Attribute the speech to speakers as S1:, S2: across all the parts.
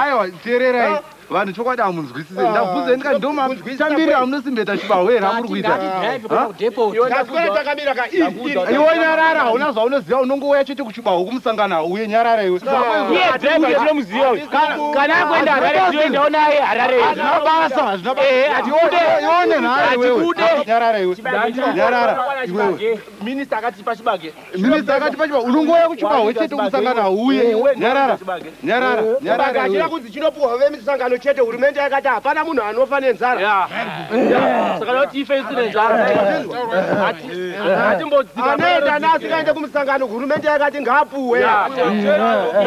S1: aiwa teererai vanhu chokwadi hamunzwisise ah. ndabvunze ndika ndomatamirira amunosimbeta chibaho here amuri kuitaiwe nyarara hauna zvaunoziva unongouya chete kuchibaho kumusangana uye nyarara iwekana akuenda harare tiendawo naye harare hazvina basa hazvina basa iwe nyarara iwe nyarara iwewe Minister akati pachibage. Minister akati pachibage. Unongoya kuchibage chete usangana uye. Nyarara. Nyarara. Nyarara. Akati kuti chinopuwa hove misangano chete hurumende yakati hapana munhu anofa nenzara. Yeah. Saka loti ife isi nenzara. Ati ati mbodzika. Anaenda nasi kaende kumusangano hurumende yakati ngapuwe.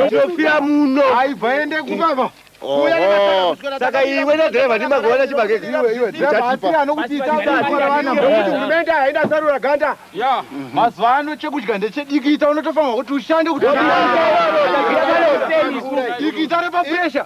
S1: Ndofia muno. Aivaende kubaba. saka iwe nadhireva ndimagona chibagehurumende haina sarura ganda mazuva ano chekudya ndechedikita unotofamba kuti ushande kutidikita repapresha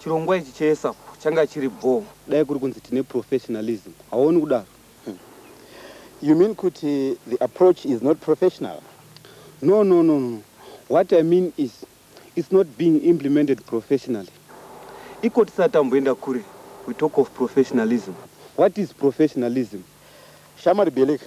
S1: Chirongwa ichi cheESAP changa chiri bhoo. Dai kuri kunzi tine professionalism, hauoni kudaro? Hmm. You mean kuti the approach is not professional? No, no, no, no. What I mean is it's not being implemented professionally. Iko tisati tamboenda kure, we talk of professionalism. What is professionalism? Shamwari Beleka,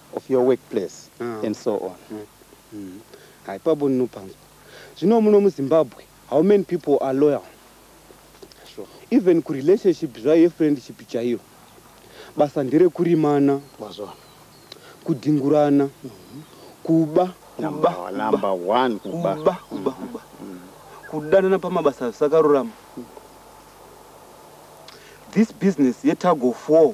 S1: of your workplace ah. and so on mm. Mm. haipapo ndinopanzwa zvino muno muzimbabwe how many people are loyal sure. even kurelationship zvayo yefriendship chaiyo basa nderekurimana mazvana kudhingurana mm-hmm. kuba kudanana pamabasa zvisakarurama this business yetug of war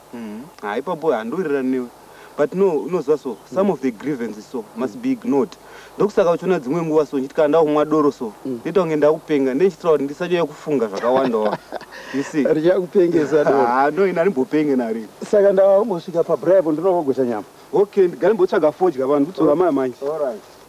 S1: Mm. Ah, ipapo handowirirani newe but no unoziva so some mm. of the grievances so must be ignored ndokusaka uchiona dzimwe nguva so ndichiti kana ndakumwa doro so mm. ndoita kunge ndakupenga nde ndichitira kuti ndisanyanya kufunga zvakawanda wa you see richakupengesa doro ah, no ini handimbopenge nari saka ndava kungosvika pabribe ndinovogocha nyama okay ndigare mbotsvaga fodya vanhu kutora maya manje all right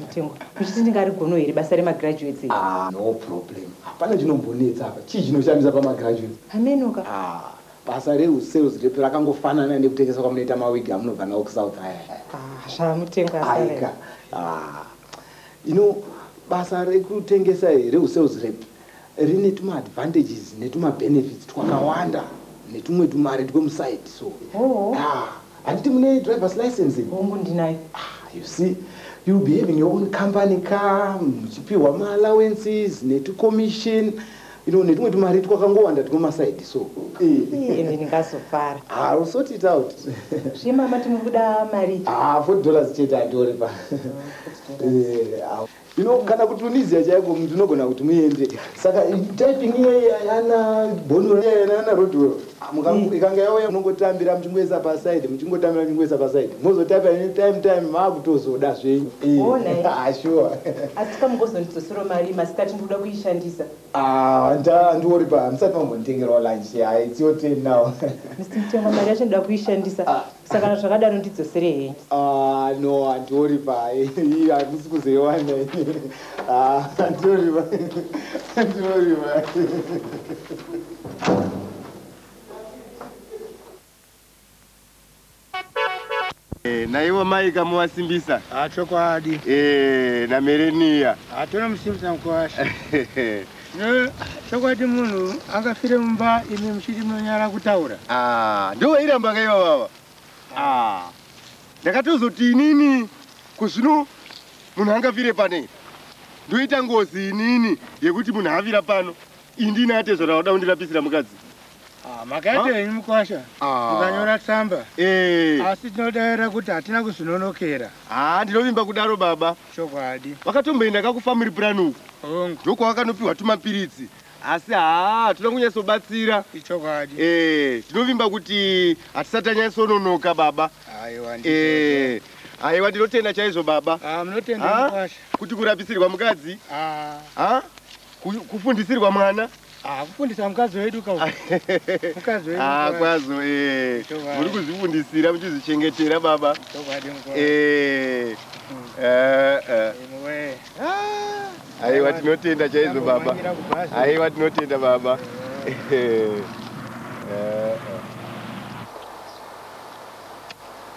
S1: Mutengwa, muchiti ndingarigono here basa remagraduates? Ah, no problem. Hapana chinombonetsa apa. Chii chinoshamisa pamagraduates? Hamenoka. Ah, basa reusales rep rakangofanana nekutengesa kwamunoita mawigi amunobva nawo kusouth aya. Ah, zvamutengwa asare. Aika. Ah. You know, basa rekutengesa here usales rep rine tuma advantages netuma benefits twakawanda netumwe tumari twemuside so oh. ah, handiti mune drivers license hongu ndinayo ah, you see you be having your own company ka muchipiwa maallowances netucommission you know netumwe tumari twakangowanda twemasaidi so ende ndingazofara ah, will sort it out zve mama tinobuda mari ah, 40 dollars chete andioripa oh, eh, you know kana kutunisia chaiko mntu unogona kuti muende saka typing iyei ayana bono riyayana ana rodwell ah, mm. ikanga yauya munongotambira muchingoisa paside muchingotambira muchingoisa paside mozotaipa any time time maakutozoda zvenyu sure asi kamugozondidzosero mari masikati ndikuda kuishandisa ah, ndiori pa ndisati mambonditengerawo lunch ya it's your turn now mr mtenga mari yacho ndida kuishandisa ah. saka zvakadaro ndidzosere henyu ah, no handiori paye handisi kuzoiwana ah, handiori paye handiori paye Eh, naivo mai kamuvasimbisa ah, chokwadi eh, namereniya ah, tonomusimbisa mukwasha chokwadi munhu akafire mumba imi muchiti munonyara kutaura ah, ndovairamba kaiva vava ah, ndakatozoti inini kuzvino munhu angafire pane ndoita ngozi inini yekuti munhu avira pano indini atezvara wada kundirapisira mukadzi Ah, makaita henyu mukwasha ah. mukanyora tsamba eh. asi tinodaira kuti hatina kuzvinonokera haa ah, ndinovimba kudaro baba chokwadi vakatomboenda ka kufamily plan uku ndokwavakanopiwa tumapiritsi asi haa toda kunyatsobatsira ichokwadi eh, tinovimba kuti hatisati anyatsononoka baba aiwa eh, aiwa ndinotenda chaizvo baba kuti kurapisirwa mukadzi kufundisirwa mwana Ah, kufundisa mukadzi wedu ka mukadzi wedu ah, kwazo eh muri kuzvifundisira muchizvichengetera baba eh eh eh aiwa tinotenda chaizvo baba aiwa tinotenda baba eh, eh. eh.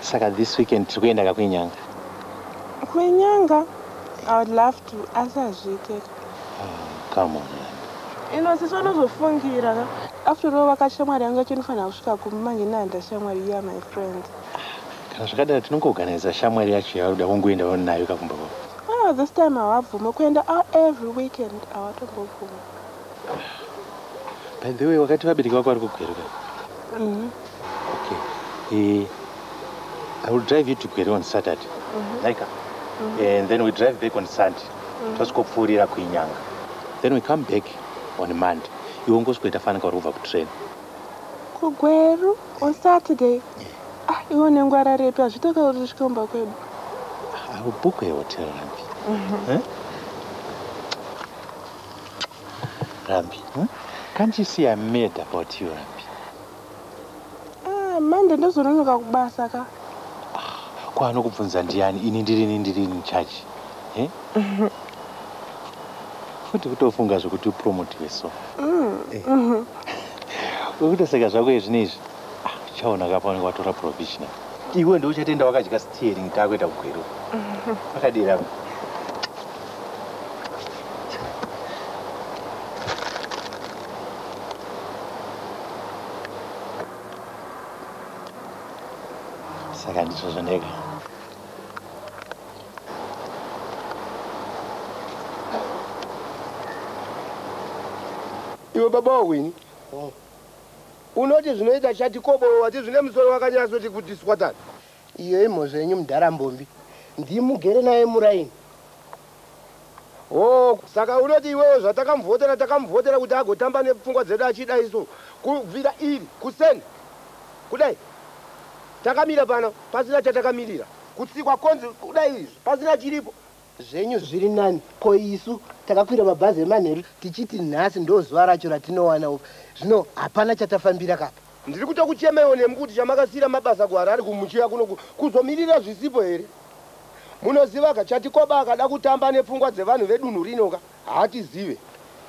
S1: Saka this weekend tiri kuenda ka kwenyanga. Kwenyanga? I would love to asi hazviite. Ah, come on. Ino sisi vanozofungira ka. After all vaka shamwari yangu yacho inofanira kusvika kumi manje nanda shamwari iya my friend. Kana zvakadaro tinongoorganiza shamwari yacho yaruda wongoendawo nayo kakumba kwako. Ah, this time hawabvume kuenda out every weekend hawatombobvume. By the way, wakati vabereki vako vari kugweru ka? Mm-hmm. Okay. Eh, I will drive you to Gweru on Saturday. Mm-hmm. Like, mm-hmm. Eh, and then we drive back on Sunday. Mm-hmm. Tosikopfuurira kuinyanga. Then we come back on Monday. Iwe ungosweta fana kauri kubva kutrain. Kugweru on Saturday. Ah, iwe nengwara repi hazvitoka kuti usvike kumba kwedu. I will book a hotel, Rambi. Mm-hmm. Eh? Rambi, hmm? can't you see I'm mad about you, Rambi? Ah, Monday ndozononoka kubasa ka. Ah, kwa anokubvunza ndiani? Ini ndirini ndirini in charge. Eh? Futi kutofunga zvekuti upromotiwe so. Mm. Eh. Mhm. Ukutoseka zvako izvi neizvi. Ah, uchaona kapaoneka watora provisional. Iwe ndiwe uchatenda wakadya Tearing takuita kugweru. Pakadii rangu. Saka ndizvo zvandega. Iwe baba wawini. Unoti zvinoita chati kobo wati zvine musoro wakanyasoti kuti swatani. Iyo imhozva yenyu mdhara mbombi ndimugere naye muraini. Oh, saka unoti iwewe zvatakamuvhotera takamuvhotera kuti agotamba nepfungwa dzedu achida isu kubvira iri kuseni kudai takamira pano pasina chatakamirira kutsikwa konzi kudai izvi pasina chiripo zvenyu zviri nani ko isu takakwira mabhazi emanheru tichiti nhasi ndozuva racho ratinowana upa zvino hapana chatafambira kapa Ndiri kutokuchemaiwo nemi kuti chamakasiira mabasa kuHarare kumuchiya kuno kuzomirira zvisipo here? Munozivaka, Chatikoba akada kutamba nepfungwa dzevanhu vedunhu rinoka, haatizive.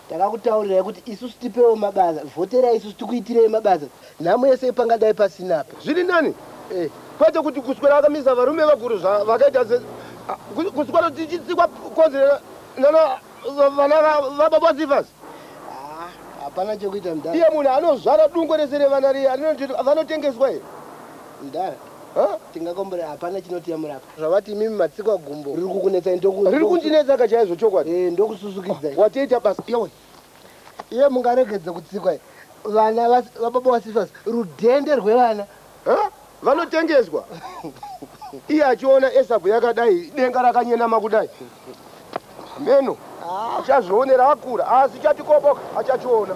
S1: Takakutaurirai kuti isusu tipewo mabasa, vhoterai isusu tikuitirei mabasa nhamo yese ipangadai pasina apa. Zviri nani? Eh. Kwete kuti kuswera akamisa varume vakuru zvavakaita se kuswera tichitsikwa konzera nana vana vababa vatsifas hapana chekuita mdara iye munhu anozvara dungo rese revana riye vanotengeswa here mdara tingakombora hapana chinotiyamura apa zvavati imimi matsikwa gumbo riri kukunetsai ndoku riri kundinetsa ka chaizvo chokwadi e ndokususukidzai watoita basa yewe iye mungaregedze kutsikwa vana vababa vasifas rudhende rwevana vanotengezwa iye achiona esabhu yakadai denga rakanyenama kudai meno achazvionera akura asi chatikoboka achachiona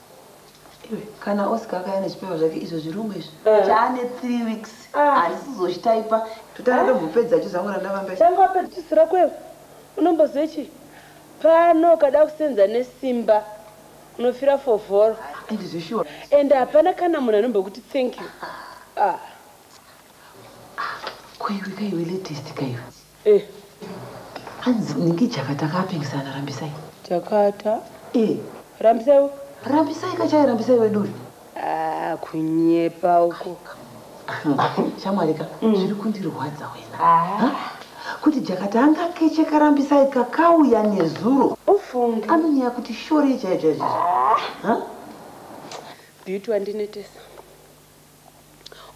S1: kana oscar akaya nezvipewa zvake izvo zvirungu izvi eh. chaane three weeks ah. arisizochitaipa totanga tombopedza ah. chizangu randavambe changu apedzisira kwevo unombozive chii pano ukada kusenza nesimba unofira fovhoro ndizvishuwa and hapana kana munhu anombokuti thank you ah. ah. koiwe kaiwe latest kaiwe Eh. Hanzi ndingi jakata akapingisana rambisai. Jakata. Eh. Rambisai. Rambisai kachai rambisai wedu. Ah, kunyepa uko. Shamwari ka mm. zviri kundirwadza wena. Ah. Kuti jakata anga keche karambisai kakauya nezuro. Ufunge. Anonyaya kuti shore chaicho chaicho. Ah. Beauty wandinetesa.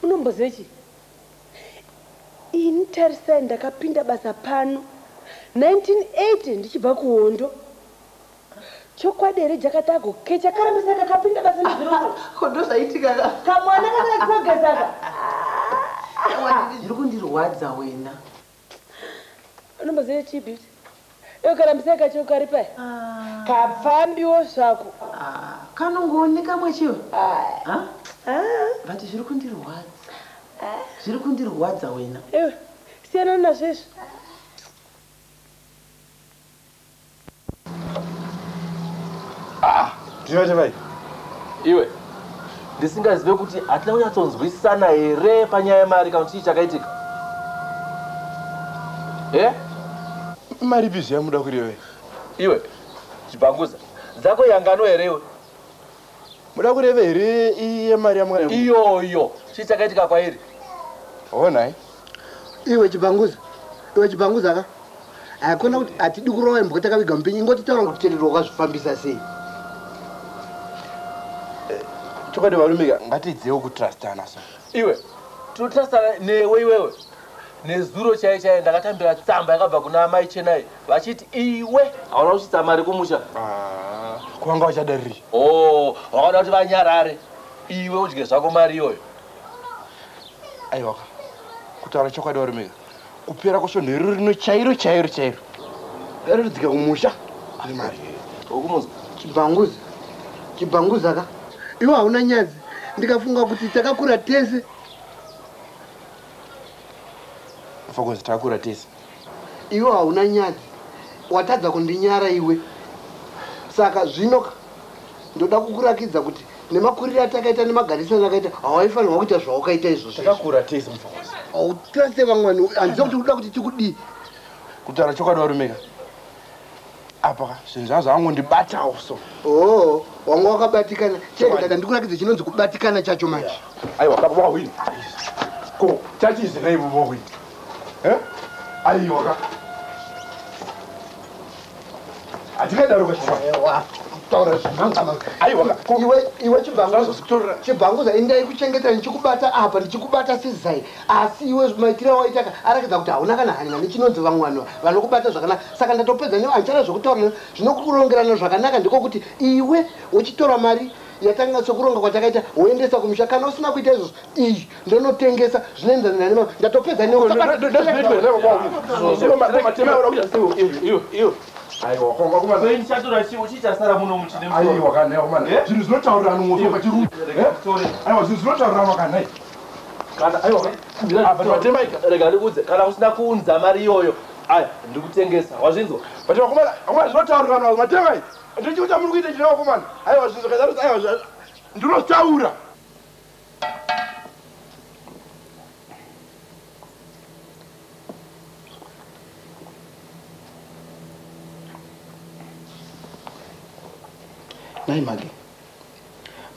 S1: unomboziva chii ini tarisai ndakapinda basa pano 1980 ndichibva kuhondo chokwadi here jakatago kechakarambisa kakapinda basa nezvirohondo zvaitika kamwana kakakogezaka zviri kundirwadza wena unomboziva chii beauty iwe karambisai kachiwe kari pai ah. kapfambiwo zvako ah, kanongooneka mwechiwe ah. but zviri kundirwadza zviri kundirwadza wena iwe siyana nazvo izvi Ah, ndinoita vai. Iwe ndisingazive kuti hatina kunyatsonzwisisana here panyaya yemari kana kuti chii chakaitika e mari bizvi yamuda kureve iwe chibhanguza dzako yangano here iwe Muda kureva here iye mari yamwana iyoyo chii chakaitika kwairi? Honai. Iwe chibanguza. Iwe chibanguza ka. Hakuna kuti hatidi kurova imbwa takaviga mupinyi ingoti taura kuti chenero wakazvifambisa sei. Eh, chokwadi varume ka ngatiidzeiwo kutrustana so. Iwe tinotrustana newe iwewe. nezuro chaiye chaiye ndakatambira tsamba yakabva kuna amai chenai vachiti iwe hauna kusvitsa mari kumusha ah, kwanga vachada riri o oh, vakaona kuti vanyarare iwe udye zvako mari iyoyo aiwaka kutaura chokwadi warumika kupera kwesvondo iro rino chairo chairo chairo raridzika kumusha ane mari okumuza chibhanguzi chibhanguzi aka iwe hauna nyadzi ndikafunga kuti takakura tese fokozi takura tese iwe hauna nyadzi watadza kundinyara iwe saka zvinoka ndoda kukurakidza kuti nemakuriro atakaita nemagarisano akaita hawaifanirwa kuita zvawakaita izvozvotakakura tese mufokozi hautrase vamwani handiza kuti uda kuti tikudii kutaura chokwadi warumeka apa zvinhu zvavo zvavangondibatawo so oh wanga wakabatikana chete kana ndikurakidze chinonzi kubatikana chacho manje aiwa baba wawini ko chatize naivo vawini eh? aiwa ka hatingadaro kaiwa iwe chibhanguza indai kuchengeta ndichikubata apa ndichikubata sizai asi iwe maitiro awaita ka arakidza kuti hauna kana hanya nechinonzi vamwe vanhu vanokubata zvakanaka saka ndatopedza newe handichada zvekutaura newe zvinokurongerana zvakanaka ndiko kuti iwe wochitora mari yatanga sokuronga kwatakaita woendesa kumusha kana usina kuita izvozvo iyi ndonotengesa zvinoenderana nane mama ndatopedza newe aiwa kwanga kuma sei ndichatora chiwo chichasara muno muchine aiwa kana kuma zvinhu zvinotaurira anhu mwoto pachirume aiwa zvinhu zvinotaurira anhu kana kana usina kuunza mari iyoyo aya ndikutengesa wazvinzwa but vakomana vakomana zvinotaurirwa navo matemai ndichii kuti amuri kuita chireva vakomana aiwa zvinzwa kazarudza aiwa ndinotaura nai mage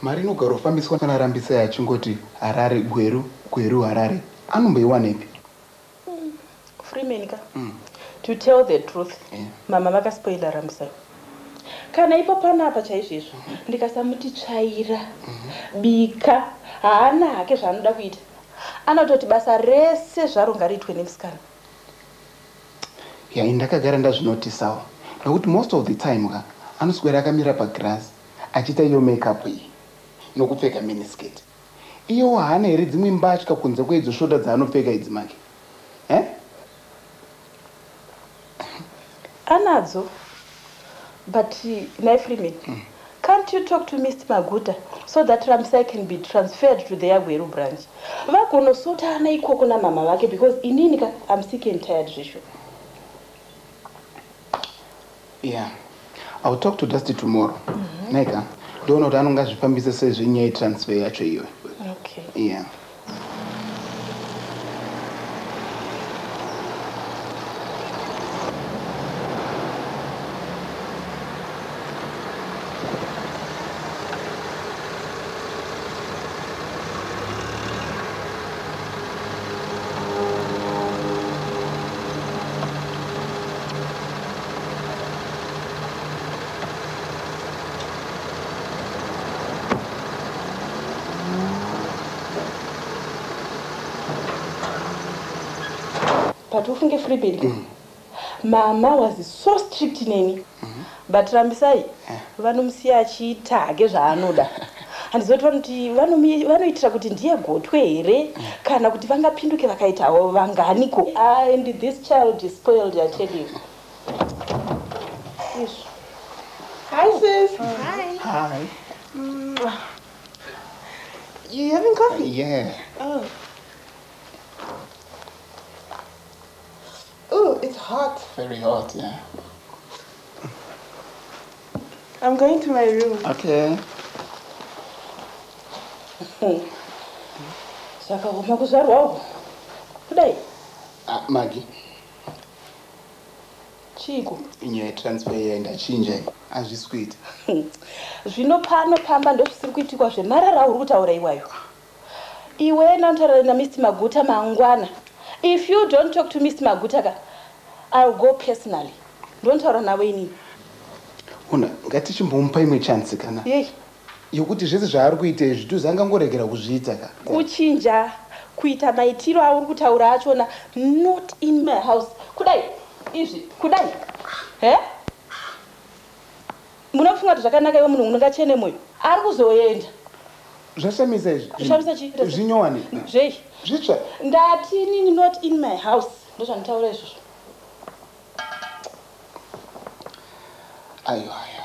S1: Mari inogarofambiswa na Rambisai achingoti Harare, Gweru, Gweru, Harare anomboiwanepi? Umm Freeman ka to tell the truth mhamha vaka spoiler Rambisai kana ipo panapa chaizvoizvo ndikasamuti tsvaira, bika haana hake zvaanoda kuita anototi basa rese zvaro ngariitwe nemusikana. Yah ini ndakagara ndazvinotisawo nokuti most of the time ka anoswera akamira pagirazi achiita iyo makeup iyi nokupfeka miniskirt iyewo haana here dzimwe mbatya kunze kweidzo shota dzaanopfeka idzi make eh? anadzo but nhai freeman mm. can't you talk to mr maguta so that ramsai can be transferred to the yagweru branch vagonosota ana ikoko namama vake because inini ka am sick and tired zvesho yeah ill talk to dusty tomorrow mm -hmm. neka ndoona kuti anonga zvifambise sei zvenyaya yetransfer yacho iwe okay yeah but ufunge freebed mm. mama was so strict neni mm -hmm. but rambisai yeah. vanomusiya achiita hake zvaanoda handiziva kuti vanoti vanomi- vanoitira kuti ndiye gotwe here kana kuti vangapinduke vakaitawo vanganiko and this child is spoiled i tell you Ish. Hi, sis. Hi. Hi. Mwah. You having coffee? Yeah. Oh. Oh, it's hot. Very hot, yeah. I'm going to my room. Okay. Saka homa kuzvarwa uko. Kudai. Ah, Maggie. Chiko. Inyaya transfer yaenda chinja hazvisi kuita. Zvino pano pamba ndozvisiri kuitikwa zvemarara uri kutaura iwayo. iwe enda unotaura namr maguta mangwana if you don't talk to mr maguta ka ill go personally ndontaura navo inini ona ngatichimbomupa imwe chance kana yei yokuti zvese zvaari kuita izvi tuzi angangoregera kuzviita ka kuchinja kuita maitiro auri kutaura achona not in my house kudai izvi kudai he Munofunga kuti zvakanaka iwe munhu unokachene moyo ari kuzoenda zvashamisa izvi zvashamisa chi zvinyowani zvei zvitsva ndati inini not in my house ndozvanditaura izvozvo ayo ayo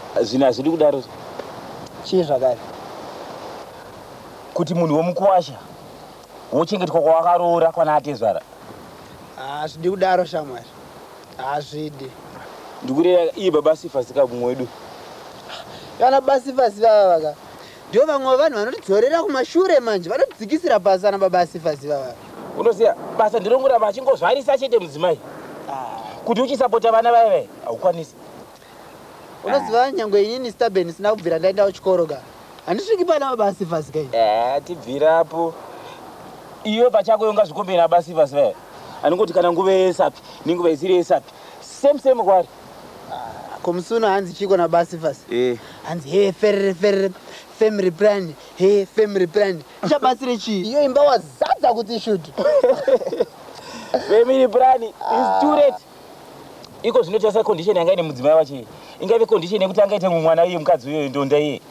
S1: zvinhu hazvidi kudaro chii zvakare kuti munhu womukwasha wochengetwa kwawakaroora kwana atezvara hazvidi ah, kudaro shamwari hazvidi ah, ndikureva iye baba sifasi ka kumwe wedu kana baba sifasi vava vaka ndivo vamwe vanhu vanotidzorera kumashure manje vanotidzikisira pasi ana baba sifasi vava unoziva basa ndinongoramba achingozvarisa chete mudzimai ah. kuti uchisapota vana vaya vaya haukwanisi unoziva nyangwe inini staben isina kubvira ndaendawo chikoro ka handisviki pana baba sivas kai eh, tibvirapo iwe pachako yonga zvikombe nababa sivas va eh? anongoti kana nguva yesapi nenguva isiri yesapi same same kwari ah, komusuno hanzi chiko nababa sivas eh. hanzi he ferere ferere family plan he family plan chabatsire chii iyo imba wazadza kuti shutu family plan is too late iko zvino tarisa condition yanga ine mudzimai wacho iye ingave condition yekuti angaite mumwe mwana iye mukadzi uyoyo ndonda iye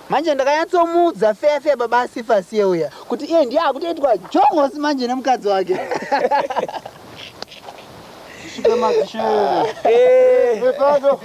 S1: manje ndakanyatsomuudza feya feya baba asifa asiye uya kuti iye ndiye akutoitwa jongosi manje nemukadzi wake Shikamadzishi. Eh. Mepado.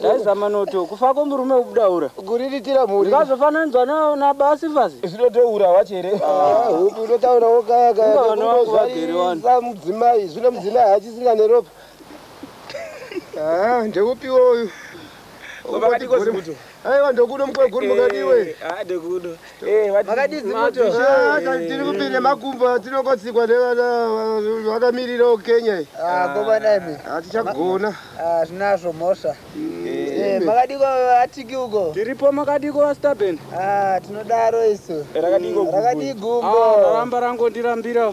S1: Ndaizama noto kufa kwemurume kubudaura. Kuriritira mhuri. Ndikazofananidzwa na na basi fasi. Zvinotoura wacho here? Ah, hupi unotaura wokaya kaya. Vana vangu vagere wani. Sa mudzimai, zvino mudzimai hachisinga neropa. Ah, ndeupi woyu? Vakati kozi kuti. Aiwa ndokuno mkweguru mukadiwe. Eh, ah, ndokuno. tirikupinde makumbo atinokotsikwa nevakamirira okenya atichagona zvinazvo mhosva makadiko atiki uko tiripo makadiko vastaben tinodaro isu rakadii gumbo raramba rangondirambira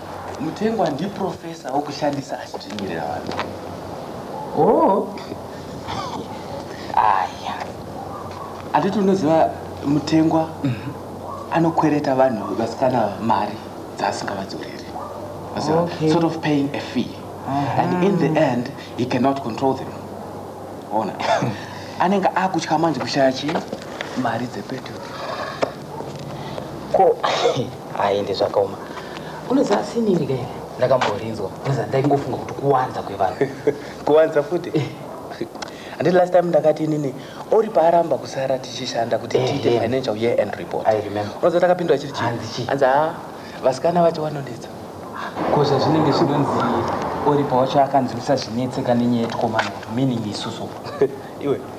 S1: Mutengwa ndiprofesa wokushandisa achidzvinyirira vanhu. Oh. Aya. Anditi unoziva mutengwa mhm. anokwereta vanhu vasikana mari dzaasingavadzoreri. Okay. Sort of paying a fee. Uh -huh. And in the end, he cannot control them. Ona. Anenge akutya manje kushaya chi mari dzepetrol. ko aende zvakaoma unoziva asi inini kai ndakamborinzwa unoziva ndaingofunga kuti kuwanza kwevanhu kuwanza futi eh. andi last time ndakati inini ori paaramba kusara tichishanda kuti eh, tiite eh. financial year end report unoziva takapindwa chiri chii anzi haa ah, vasikana vacho vanonetsa ko zvazvinenge zvinonzi ori pawacho akanzwisa zvinetseka nenyaya yetikomana kuti meaning isusu iwe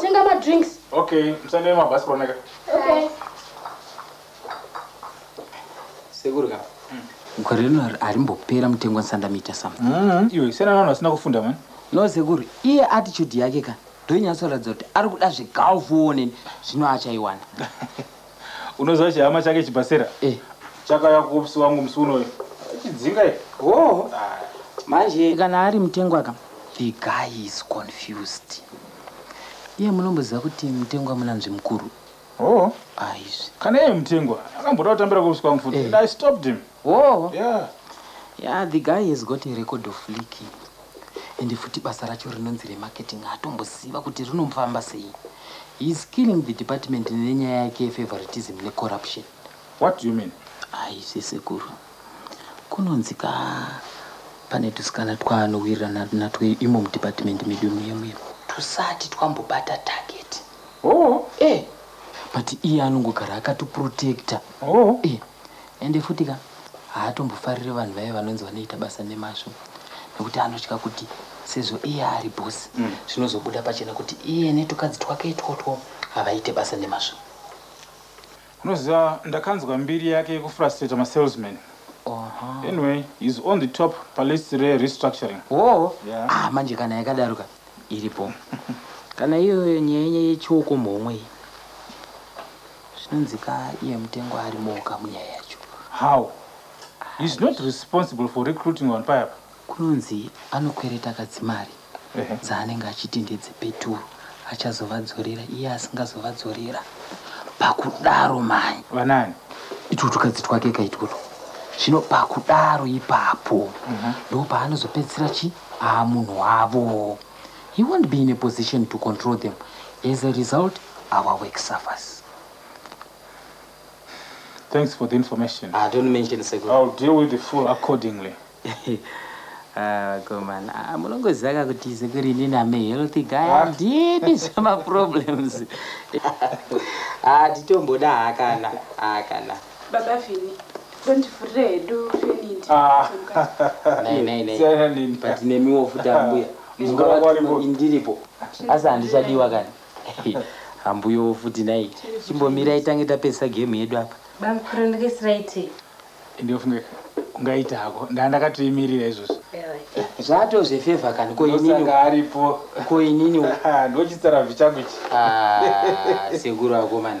S1: Tenga ma drinks. Okay, msende ma bus koneka. Okay. Segurga. Mm. Gore rino arimbopera mutengo nsanda mita sam. Mm. Iwe sena nana asina kufunda man. No seguru, iye attitude yake ka. Ndonyatsoratidza kuti ari kuda zvegaufu one zvino achaiwana. unoziva chihama chake chibhasera eh. chakauya kuopisi wangu musi unoyo chidzinga oh. manje kana ari mutengwa ka the guy is confused iye munomboziva kuti mutengwa munanzvi mukuru oh. aizvi ah, kana iye mutengwa akamboda kutambira kuopisi kwangu futi eh. i stopped him oh. yeah. yeah the guy has got a record of leaking ende futi basa racho rinonzi remarketing hatomboziva kuti rinomfamba sei he is killing the department nenyaya yake yefavoritism necorruption what do you mean aise sekuru kunonzi ka pane tusikana twaanowirirana natwo imo mudepartment medu muye muye tusati twambobata target oh eh but iye anongogara akatoprotecta oh eh ende futi ka haatombofarire vanhu vaye vanonzi vanoita basa nemazvo nekuti anotya kuti sezvo iye ari bhosi mm. zvinozobuda pachena kuti iye netukadzi twake itwotwo havaite basa nemazvo unoziva ndakanzwa mbiri yake yekufrustrata masalesman anyway is on the top palist rerestructuring oo ah, manje kana yakadaroka iripo kana iyoyo nyaya nyaya yechiokomhomwe Zvinonzi ka iye mutengo arimowo ka munyaya yacho. How? He is not responsible for recruiting vanhu paya apa. Kunonzi anokwereta kadzimari dzaanenge achiti ndedzepeturu achazovadzorera iye asingazovadzorera pakudaro mai vanani itwo tukadzi twake ka itwotwo zvino pakudaro ipapo mhm. ndo paanozopedzisira chi aa munhu wavo he won't be in a position to control them as a result our work suffers thanks for the information ah, don't mention second. i'll deal with the full accordingly ah, komana ah, munongoziva ka kuti sekuri ini name healthy guy handidi zvemaproblems hatitomboda hakana hakana Baba Vini, ndondivhurire hedu feniti. Ah. Nei, nei, nei. Siyana nini. But nemiwo futi ambuya. Mungava varimo. Ndiripo. Asi handichadiwa kani. Ambuyo futi nai. Chimbomira itange tapesa game yedu apa. Bamkuru ndikisiraiti. Ndiofunge ungaita hako. Ndaa ndakatoimirira izvozvo. Zvato zvefeva kani ko inini. Ndosaka aripo. Ko inini. Ndochitsara vichangu ichi. Ah, sekuru akomana.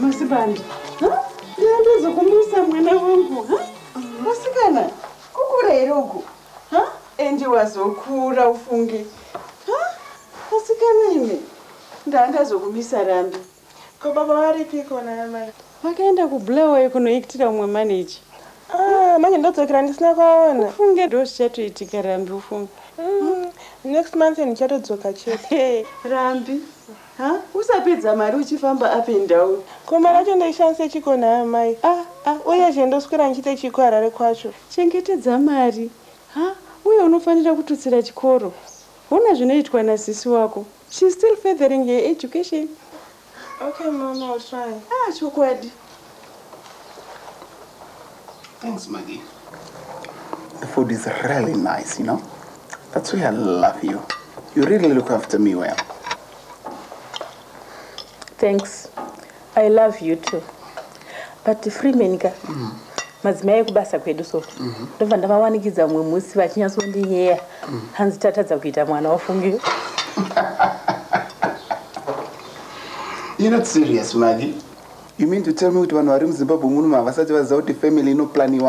S1: masibanda ndiyandizokumisa mwana wangu masikana kukura here uku huh? endi wazokura ufunge huh? asi kana imi ndandazokumisa rambi ko baba varipiko naamai vakaenda kubulawayo kunoitira umwe maneji ah, manje ndodzokera ndisina kwaona ufunge ndo zvichatoitika rambi ufunge mm. next month ndichatodzoka chete rambi Ha, usapedza mari uchifamba up and down. Ko mari yacho ndoishandise chiko nayo mai. Ah, ah, uye zve ndoswera ndichite chiko harare kwacho. Chengetedza mari. Ha, uye unofanira kututsira chikoro. Hona zvinoitwa na sisi wako. She's still furthering her education. Okay mom, I'll try. Ah, chokwadi. Thanks, Maggie. The food is really nice, you know? That's why I love you. You really look after me well. Thanks. I love you too. But Freeman, mm. madzimai ekubasa kwedu so mhm. ndobva ndavawanikidza mumwe musi vachinyatsondiyeya mhm. hanzi tatadza kuita mwana wafungiyo You're not serious, Maggie. You mean to tell me kuti vanhu vari muZimbabwe muno havasati vaziva kuti family inoplaniwa